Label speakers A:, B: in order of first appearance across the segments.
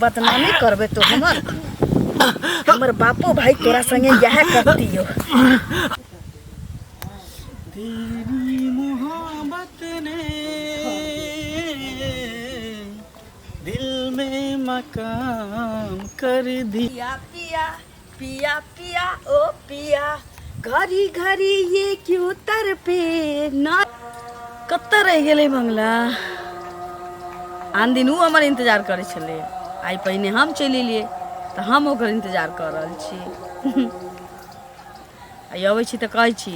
A: बदनामी करबे तो हमर हमर बापो भाई तोरा संगे यह करती हो
B: तेरी मोहब्बत ने दिल में मकाम कर दिया पिया
A: पिया पिया ओ पिया घड़ी घड़ी ये क्यों तर पे ना कतऽ रहि गेलै बंगला आन दिन ओ हमर इंतजार करै छलै आइ पहिने हम चलि एलियै तऽ हम ओकर इंतजार कऽ रहल छी आइ अबै छी तऽ कहै छी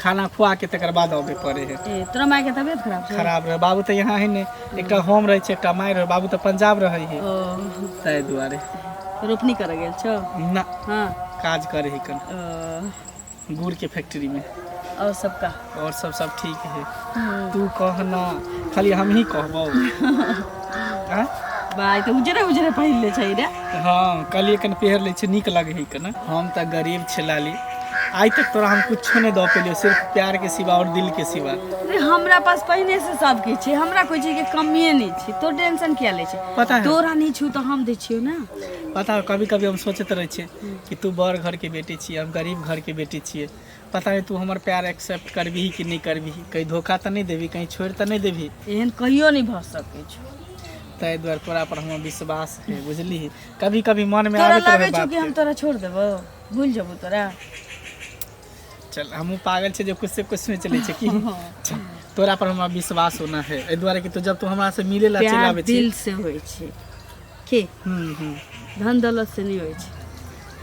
B: खाना खुआ के तकर बाद अबे पड़े है ए, तोरा माय के तबियत खराब
A: छै खराब रहे बाबू तो यहाँ है ने
B: एकटा हम रहे छै एकटा माय रहे बाबू तो पंजाब रहे है ओ ताहि दुआरे रोपनी करे
A: गेल छौ ना हाँ
B: काज
A: करे है कन
B: ओ, गुड़ के फैक्ट्री में और सबका
A: और सब सब ठीक
B: है हम्म। तू कहना खाली हम ही कहबो आँय? भाय तऽ
A: उजरे उजरे पहिन ले छै रे हाँ कहलिए
B: कन पहर ले छै नीक लगे है कन हम तऽ गरीब छै लाली आइ तक तोरा हम कुछो नहि दऽ पेलियो सिर्फ प्यार के सिवा और दिल के सिवा अरे हमरा पास
A: पहिने से सब किछु छै हमरा कोई चीज के कमिए नहि छै तो टेंशन किया ले छै पता है तोरा नहि छू तऽ
B: हम दै
A: छियौ ने पता है कभी कभी
B: हम सोचैत रहै छियै कि तू बड़ घर के बेटी छियै हम गरीब घर के बेटी छियै पता नहि तू हमर प्यार एक्सेप्ट करबही कि नहि करबही कहीं धोखा तऽ नहि देबही कहीं छोड़ि तऽ नहि देबही एहन कहियो नहि भऽ
A: सकै छै ताहि दुआरे
B: तोरा पर हमर विश्वास है बुझली कभी कभी मन में तोरा आबे लागै छौ कि हम तोरा छोड़
A: देबो भूल जेबो तोरा
B: चल हमहूँ पागल छै जे कुछ से कुछ में चले छै की चल, तोरा पर हमरा विश्वास होना है एहि दुआरे कि तू जब तू हमरा से मिले ला चलि प्यार आबे छी दिल से होइ छै
A: के हम्म, हम्म, धन दौलत से नहीं होइ छै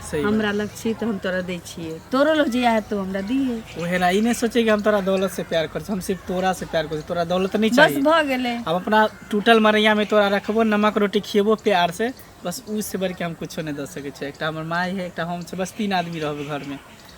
A: सही बात। हमरा
B: लग छी तऽ हम
A: तोरा दै छियै तोरो लग जे आयत तो हमरा दिहे उहे ना ई नहीं सोचे कि
B: हम तोरा दौलत से प्यार कर हम सिर्फ तोरा से प्यार कर तोरा दौलत नहीं बस चाहिए भऽ गेलै हम अपना
A: टूटल
B: मरैया में तोरा रखबो नमक रोटी खियेबो प्यार से बस उ से बढ़ के हम कुछो नहीं दे सके छी एकटा हमर माई है एकटा हम छै बस तीन आदमी रहबे घर में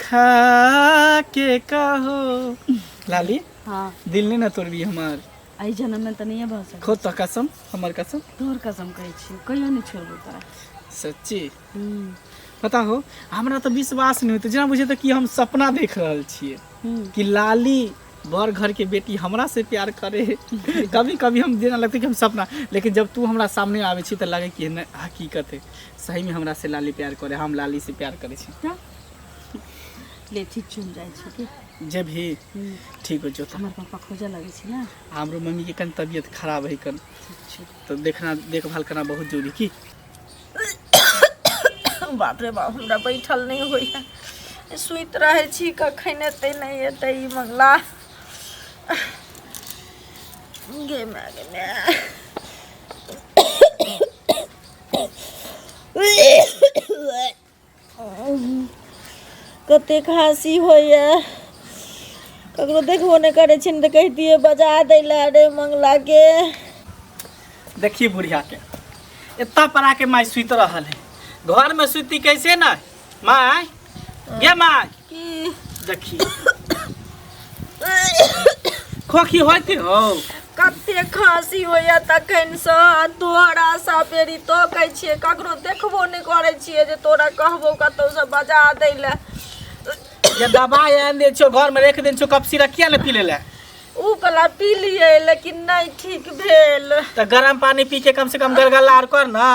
B: खा के कहो लाली हाँ दिल
A: नहीं ना तोड़बी
B: हमार एहि जन्म में तऽ
A: नहिए भऽ सकत खो तो कसम हमर
B: कसम तोहर कसम कहै
A: छी कहियो नहि छोड़बो तोरा सच्ची
B: हम्म, पता हो हमरा तो विश्वास नहीं होते जेना बुझे तो कि हम सपना देख रहल छिए हम्म। कि लाली बड़ घर के बेटी हमरा से प्यार करे कभी कभी हम देना लगते कि हम सपना लेकिन जब तू हमरा सामने आवे छी तो लगे कि नहीं हकीकत है सही में हमरा से लाली प्यार करे हम लाली से प्यार करे छी क्या
A: ले ठीक चल जाइ छै कि जब ही
B: ठीक हो जाता हमर पापा खोजऽ लगै
A: छै ने हमरो मम्मी के कन
B: तबियत खराब है कन ठीक छै तो देखना देखभाल करना बहुत जरूरी की
A: बाप रे बाप हमरा बैठल नहि होइए सुति रहै छी कखन एतै नहि एतै ई मंगला गे माय गे माय कतेक हँसी होइए ककरो देखबो नहि करै छियनि तऽ कहितियै बजा दै लए रे मंगलाके
B: देखिए बुढ़िया के इतना पड़ा के माय सुत रहल है घर में सुती कैसे न माय ये माय की देखी खोखी होती हो कते
A: खांसी होइया तखन से आ तोहरा सा पेरी तकै छियै ककरो देखबो नहि करै छियै जे तोरा कहबो कतौ से बजा दै लए जे
B: दबाइ आनि दै छियो घरमे राखि दै छियो कप सिरा किया ने पी लेले ऊ बला
A: पी लियै लेकिन नहि ठीक भेल तऽ गरम पानी
B: पी के कम से कम गलगला आर कर न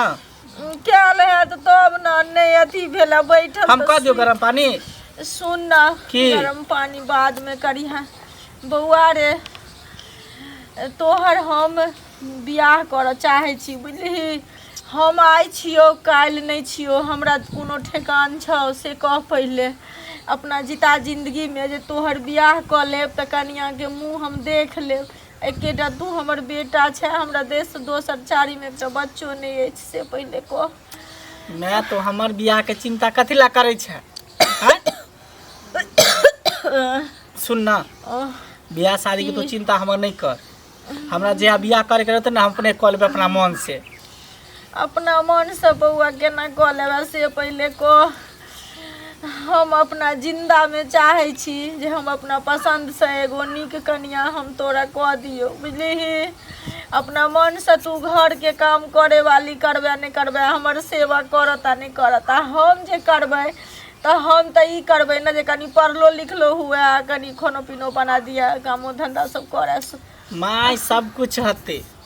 B: कयल
A: है तऽ तब ने नहि अथी भेल बैठल हम कह दियौ गरम पानी
B: सुन ना
A: की? गरम पानी
B: बाद
A: में करिहा बौआ रे तोहर हम बियाह करऽ चाहे छी बुझलिही हम आइ छियौ काल्हि नहि छियौ हमरा कोनो ठेकान छौ से कह पहिले अपना जिता जिंदगी में जे तोहर बियाह कऽ लेब तऽ कनिया के मुंह हम देख लेब एकेटा तू हमर बेटा छै हमरा देश से दोसर चारी में एकटा बच्चो नहीं है से पहले को मैं तो हमर
B: बियाह के चिंता कथी ला करे छै हैं? सुन ना बियाह शादी के तो चिंता हमर नहीं कर हमरा जे बियाह करे के रहते ना हम अपने कॉल पे अपना मन से अपना
A: मन से बौआ केना कऽ लेबे से पहिले कह हम अपना जिंदा में चाहे छी जे हम अपना पसंद से एगो नीक कनिया हम तोरा कह दियो बुझली अपना मन से तू घर के काम करे वाली करबे नहीं करबे हमर सेवा करता नहीं करता हम जे करबे तो हम तो ई करबे ना जे कनी पढ़लो लिखलो हुए आ कनी खानो पीनो बना दिया कामो धंधा सब करे माय सब
B: कुछ हते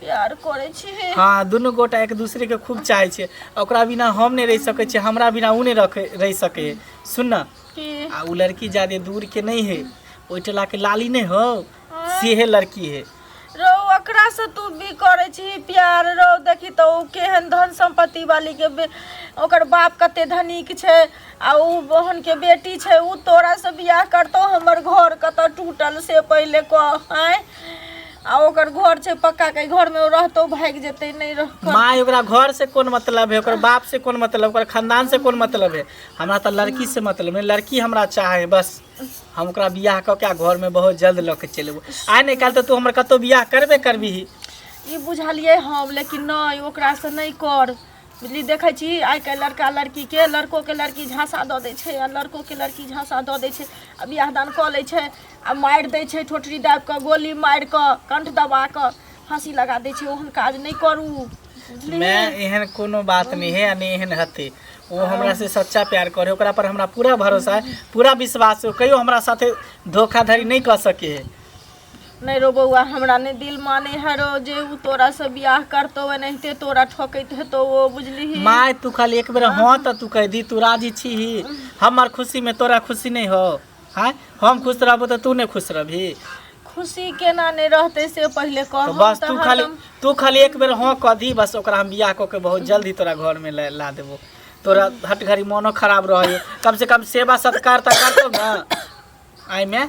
B: प्यार
A: करै छी हाँ दुनू गोटा एक
B: दूसरे के खूब चाहे छे ओकरा बिना हम नहीं रह सके छे हमरा बिना उ नहीं रख रह सके सुन ना आ उ लड़की
A: ज्यादा
B: दूर के नहीं है ओइ टला के लाली नहीं हो से है लड़की है रो ओकरा
A: से तू भी करै छी प्यार रो देखी तो उ केहन धन संपत्ति वाली के बे- ओकर बाप कते धनिक छै आ उ बहन के बेटी छै उ तोरा से बियाह करतो हमर घर कतऽ टूटल से पहिले कह आँय आ ओकर घर छै पक्का के घर में रहतो भाग जेते नहीं रह माय ओकरा घर से
B: कोन मतलब है ओकर बाप से कोन मतलब ओकर खानदान से कोन मतलब है हमरा तो लड़की से मतलब है लड़की हमरा चाहे बस हम ओकरा बियाह क के घर में बहुत जल्द लऽ के चलि एबो आइ नहि काल्हि तऽ तू हमर कतौ बियाह करबे करबिही ई बुझलिए
A: हम लेकिन नहीं ओकरा से नहीं कर बुझली देखै छी आइ काल्हि लड़का लड़कीके लड़कोके लड़की झाँसा दऽ दै छै आ लड़कोके लड़की झाँसा दऽ दै छै आ बियाह दान कऽ लै छै आ मारि दै छै ठोठरी दाबि कऽ गोली मारि कऽ कंठ दबा कऽ फाँसी लगा दै छै ओहन काज नहि करू बुझलियै मैं एहन कोनो
B: बात नहीं है नहीं एहन हते वो हमरा से सच्चा प्यार करे ओकरा पर हमरा पूरा भरोसा है पूरा विश्वास है कहियो हमरा साथे धोखाधड़ी नहीं कर सके है नहि रो
A: बौआ हमरा नहि दिल माने है रो जे उ तोरा से बियाह करतो एनाहिते तोरा ठकैत हेतो ओ बुझलिही माय तू खाली एक बेर
B: हाँ तऽ तू कहि दी तू राजी छीही हमर खुशी में तोरा खुशी नहीं हो हाँ हम खुश रहबो तऽ तू नहीं खुश रहबी खुशी
A: केना नहि रहते से पहिले कह तऽ बस तू खाली
B: तू खाली एक बेर हाँ कह दी बस ओकरा हम बियाह कऽ के बहुत जल्दी तोरा घर में ला ला देबो तोरा हट घड़ी मोनो खराब रहे कम से कम सेवा सत्कार तऽ करतो ना एहिमे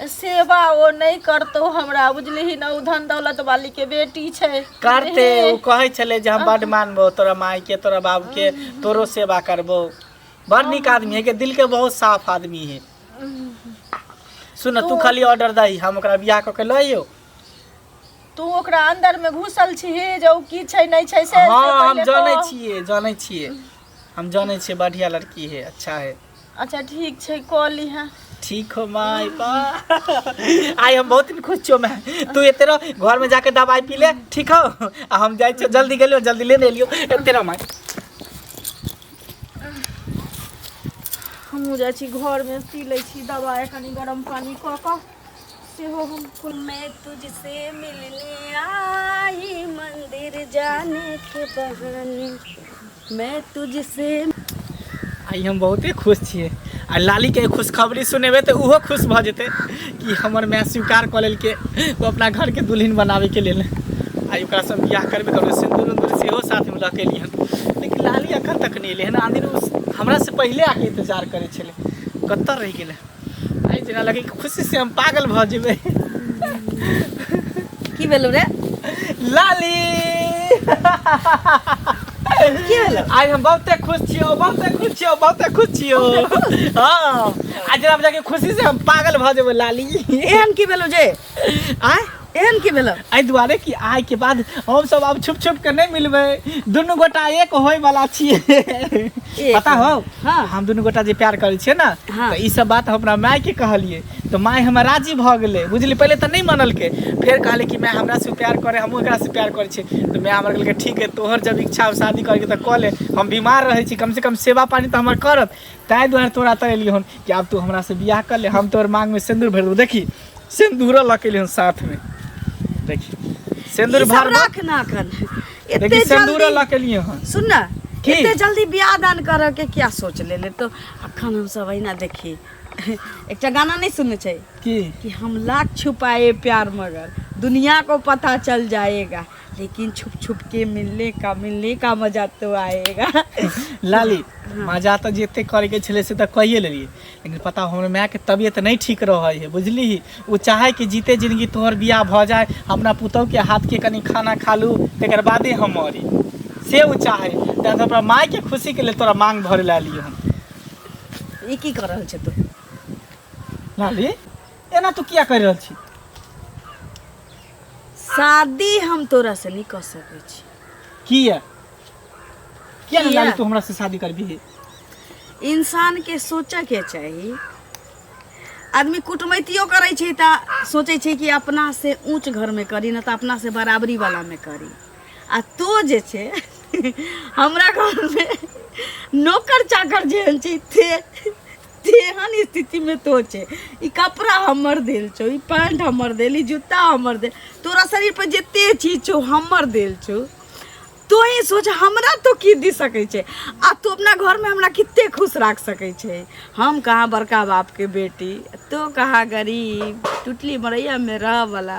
B: सेवा
A: ओ नहि करतौ हमरा बुझलिही ने ओ धन दौलत वाली के बेटी छै करते ओ
B: कहै छलै जे हम बड मानबो तोरा माय के तोरा बाबू के तोरो सेवा करबो बड़ नीक आदमी है के दिल के बहुत साफ आदमी है सुन तू खाली ऑर्डर दही हम ओकरा बियाह कऽ के लइयो
A: तू ओकरा अंदर में घुसल छी जे ओ की छै नहीं छै से हाँ हम जाने
B: छिए जाने छिए हम जाने छिए बढ़िया लड़की है अच्छा है अच्छा ठीक छै
A: कऽ लिहे ठीक हो माय
B: बा आइ हम बहुत दिन खुश छियो मैं तू एते रह घर में जाके दवाई पी ले ठीक हो आ हम जाय छियो जल्दी गेलियो जल्दी लेने एलियो एते रह माय
A: हमहूँ जाइ छी घरमे पी लै छी दबाइ कनि गरम पानि कऽ कऽ हो हमको मैं तुझसे मिलने आई मंदिर जाने के बहाने मैं तुझसे
B: आइ हम बहुते खुश छियै आ लालीके खुशखबरी सुनेबै तऽ ओहो खुश भऽ जेतै कि हमर माय स्वीकार कऽ लेलकै ओ अपना घरके दुल्हन बनाबैके लेल आइ ओकरासँ हम बियाह करबे करबै सिन्दूर उन्दूर सेहो साथमे लऽ कऽ एलियै हन लेकिन लाली एखन तक नहि एलै हन आदिर ओ हमरासँ पहिले आके इन्तजार करै छलै कतऽ रहि गेलै आइ जेना लगे कि खुशी से हम पागल भऽ जेबै
A: की भेलौ रे
B: लाली की भेलौ आइ हम बहुते खुश छियौ बहुते खुश छियौ बहुते खुश छियौ हँ आइ जेना लगे कि खुशी से हम पागल भऽ जेबै लाली एहन की भेलौ जे
A: आय
B: एहन की भेल
A: एहि दुआरे कि आय
B: के बाद हम सब अब छुप छुप के नहीं मिलबे दुनू गोटा एक होय वाला छिए पता हो हाँ। हम दुनू गोटा
A: जे प्यार
B: करे छिए ना हाँ। तो ई सब बात
A: हमरा
B: माय के कहलिए तो माय हमरा राजी भ गेले बुझली पहले तो नहीं मानल के फिर कहले कि मैं हमरा से प्यार करे हम ओकरा से प्यार करे छिए तो मैं हमरा कहले ठीक है तोहर जब इच्छा हो शादी करे के तो क ले हम बीमार रहे छी कम से कम सेवा पानी तो हमर करत ताहि दुआरे तोरा तरेलिए हन कि आब तू हमरा से बियाह कर ले हम तोर मांग में सिंदूर भर देबो देखी सिंदूर लऽ के एलियन साथ में देखी सिंदूर ई सब भर रख ना कन
A: एते देखी सिंदूर
B: जल्दी लऽ के एलियन हन सुन ना की? एते
A: जल्दी
B: बियाह दान
A: करऽ के क्या सोच ले ले तो अखन हम सब अहिना देखी एकटा गाना नहीं सुनने छै की कि हम लाख छुपाए प्यार मगर दुनिया को पता चल जाएगा लेकिन छुप छुप के मिलने का मिलने का मजा तो आएगा लाली
B: मजा तऽ जते करे के छले से तऽ कहिए लेलिए लेकिन पता हमर मायके तबियत नहि ठीक रहै है बुझली ओ चाहे कि जीते जिंदगी तोहर बियाह भऽ जाए अपना पुतौहके हाथके कनि खाना खा लू तकर बादे हम मरी से ओ चाहे तैं तऽ अपना मायके खुशीके लेल तोरा मांग भरे लए एलियै हम ई
A: की कर रहल छै तू
B: लाली एना तू किया करि रहल छी
A: शादी हम तोरा से नहि कऽ सकै छी किया
B: किया ना किया? लाली तू हमरा से शादी करबी है इंसान
A: के सोचऽ के चाही आदमी कुटमैतियो करै छै तऽ सोचै छै कि अपना से ऊँच घरमे करी नहि तऽ अपना से बराबरी वालामे करी आ तो जे छै हमरा घरमे नौकर चाकर जेहन छै ते तेहन स्थितिमे तो छै ई कपड़ा हमर देल छौ ई पैंट हमर देल ई जूता हमर देल तोरा शरीर पर जते चीज छौ हमर देल छौ तो ही सोच हमरा तो की दी सके छे आ तू अपना घर में हमरा कितने खुश रख सके छे हम कहाँ बड़का बाप के बेटी तो कहाँ गरीब टुटली मरैया में रह वाला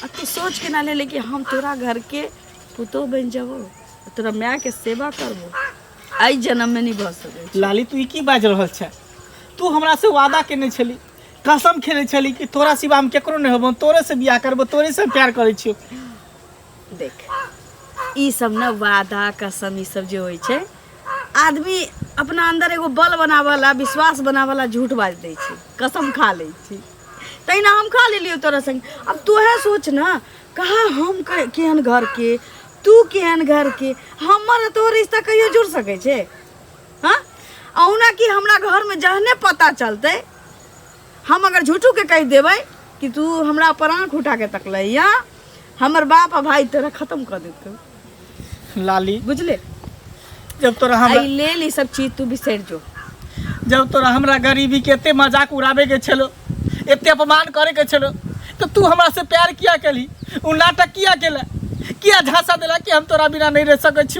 A: आ तू सोच के ना ले ले कि हम तोरा घर के पुतो बन जाबो तोरा माय के सेवा करबो आई जन्म में नहीं भऽ सकै छै। लाली तू ई की बाजि
B: रहल छै तू हमरा से वादा केने छली कसम खेने छली कि तोरा सिवा हम केकरो नहि होबो तोरे से बियाह करबो तोरे से प्यार करै छियो
A: देख ई सब ना वादा कसम ई सब जे होइ छै आदमी अपना अंदर एगो बल बनावला विश्वास बनावला झूठ बाज दै छै कसम खा लै छै तहिना हम खा लेलियो तोरा संग अब तोहे सोच ना कहा हम के- केहन घर के तू केहन घर के हमर आ तोहर रिश्ता कहियो जुड़ सकै छै हाँ अहुना कि हमरा घर में जहने पता चलतै हम अगर झूठू के कह देवे कि तू हमरा पर आँख उठा के तकले या हमर बाप आ भाई तोरा खत्म कर देते लाली
B: बुझले
A: जब
B: तोरा हमरा आई ले ली सब चीज तू
A: बिसर जो जब तोरा
B: हमरा गरीबी के एते मजाक उड़ाबे के छलो एते अपमान करे के छलो तो तू हमरा से प्यार किया केली उ नाटक किया केला किया झांसा देला कि हम तोरा बिना नहीं रह सकै छी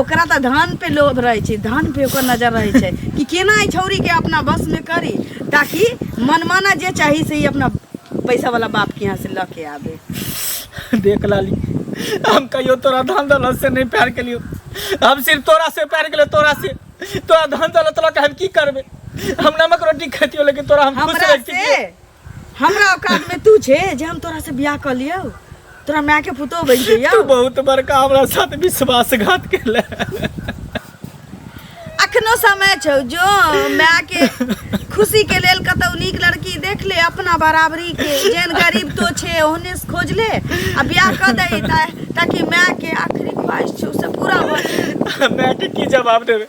A: ओकरा तऽ धन पे लोभ रहै छै धन पे ओकर नजर रहै छै कि केना एहि छौरीके अपना बसमे करी ताकि मनमाना जे चाही से ई अपना पैसावला बापके यहाँ से लऽ के आबे देख
B: लाली हम कहियो तोरा धन दौलत से नहीं प्यार कलियो हम सिर्फ तोरा से प्यार कलियो तोरा से तोरा धन दौलत लऽ के हम की करबे हम नमक रोटी खेतियो लेकिन तोरा हम खुश हमरा रखतियो से हमरा
A: औकात में तू छे जे हम तोरा से बियाह कर लियो तोरा माय के पुतो बन तू जइयो बहुत बड़का
B: हमरा साथ विश्वासघात केले
A: अखनो समय छौ जो माय के खुशी के लेल कतौ नीक लड़की देख ले अपना बराबरी के जेन गरीब तो छे ओहने से खोज ले आ बियाह कर दे ता, ताकि माय के आखिरी ख्वाहिश छौ से पूरा हो जाए। हमरा के की जवाब
B: देबे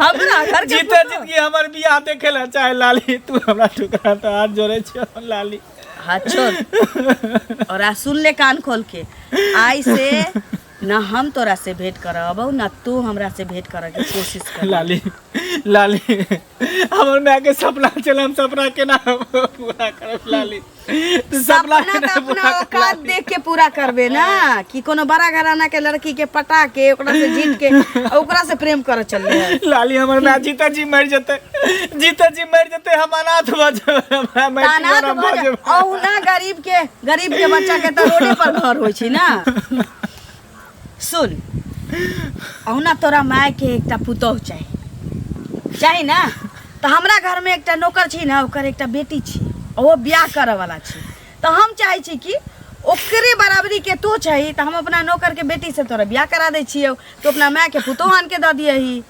A: हम ना घर के जीते जीत की हमर
B: बियाह देखे ला चाहे लाली तू हमरा ठुकरा तो हाथ जोड़े छियो लाली हाँ चल
A: और आ सुन ले कान खोल के आई से ना हम तोरा से भेंट करब ना तू हमरा से भेंट करे के कोशिश कर लाली
B: लाली हमर माय के सपना चल हम सपना केना पूरा करब लाली तू सपना सपना केना तो अपना
A: पूरा करब औकात
B: लाली?
A: देख के
B: पूरा
A: करबे ना कि कोनो बड़ा घराना के लड़की के पटा के ओकरा से जीत के आ ओकरा से प्रेम करे चल रहे लाली हमर माय जीता
B: जी मर जते जीता जी मर जते हम अनाथ भ जाब हमरा माय तानात जीवन भऽ भऽ जाब।
A: जाए। औ
B: ना गरीब के
A: गरीब के बच्चा के तऽ रोडे पर घर होइ छै ना सुन अहुना तोरा माय के एकटा पुतोह चाही चाही ना तऽ हमरा घर में एकटा नौकर छी ना ओकर एकटा बेटी छी ओहो ब्याह करऽ वाला छी तऽ हम चाहै छी कि ओकरे बराबरी के तो चाही तऽ हम अपना नौकर के बेटी से तोरा ब्याह करा दै छियौ तो अपना माय के पुतोह आन के दऽ दियही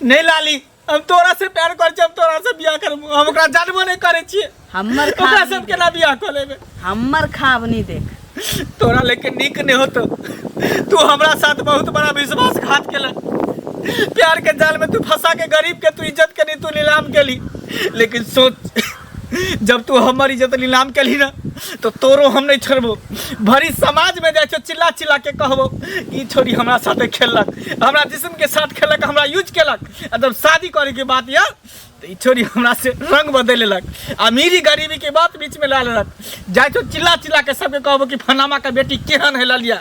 A: नहीं लाली
B: हम तोरा से प्यार कर छी हम तोरा से बियाह करब हम ओकरा जानबो नहीं करे छी हमर ओकरा खाब से हम नहीं
A: केना बियाह
B: कर लेबे देख। हमर खाब
A: नहीं देख तोरा लेके
B: नीक नहीं होतो तू हमरा साथ बहुत बड़ा विश्वासघात केला प्यार के जाल में तू फंसा के गरीब के तू इज्जत के नहीं तू नीलाम केली लेकिन सोच जब तू हमर इज्जत नीलाम केलही ना तो तोरो हम नहीं छोड़बो भरी समाज में जाए छो चिल्ला चिल्ला के कहबो ई छोरी हमरा साथे खेललक हमरा जिस्म के साथ खेलक हमरा यूज केलक आ जब शादी करे के बात या तो ई छोरी हमरा से रंग बदल लेलक अमीरी गरीबी के बात बीच में ला लेलक जाए छो चिल्ला चिल्ला के सबके कहबो कि फनामा का बेटी केहन है ललिया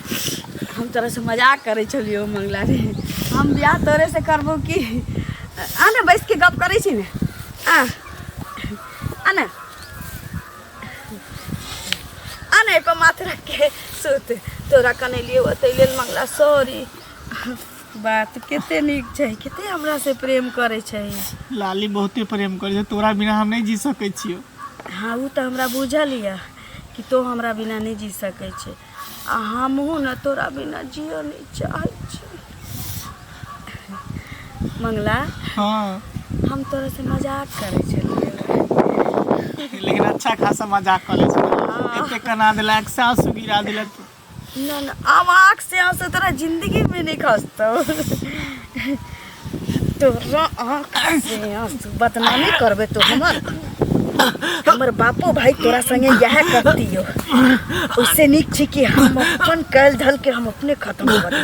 A: हम तोरा से मजाक करे छलियो मंगला रे हम बियाह तोरे से करबो की आ ना बैस के गप करे छी ने आ आ ना आ ना एको माथ रख के सुत तोरा कने लिए ओते लेल मंगला सॉरी बात कते नीक छै कते हमरा से प्रेम करे छै लाली बहुते
B: प्रेम करे छै तोरा बिना हम नहीं जी सके छियो हाँ उ तो
A: हमरा बुझल यऽ कि तो हमरा बिना नहीं जी सके छै आ हमहूँ ने तोरा बिना जियो नहि चाहै छी मंगला हाँ
B: हम तोरा से
A: मजाक करै छलियै
B: लेकिन अच्छा खासा मजाक कर ले एते कना देलक सास गिरा देलक ना ना
A: आवाक से आंसू तोरा जिंदगी में नहीं खसतो तोरा आँख से आँसू बदनामी करबे तो हमर हमर बापो भाई तोरा संगे यह करतियो उससे नीक छी कि हम अपन कैल धल के हम अपने खत्म कर दी।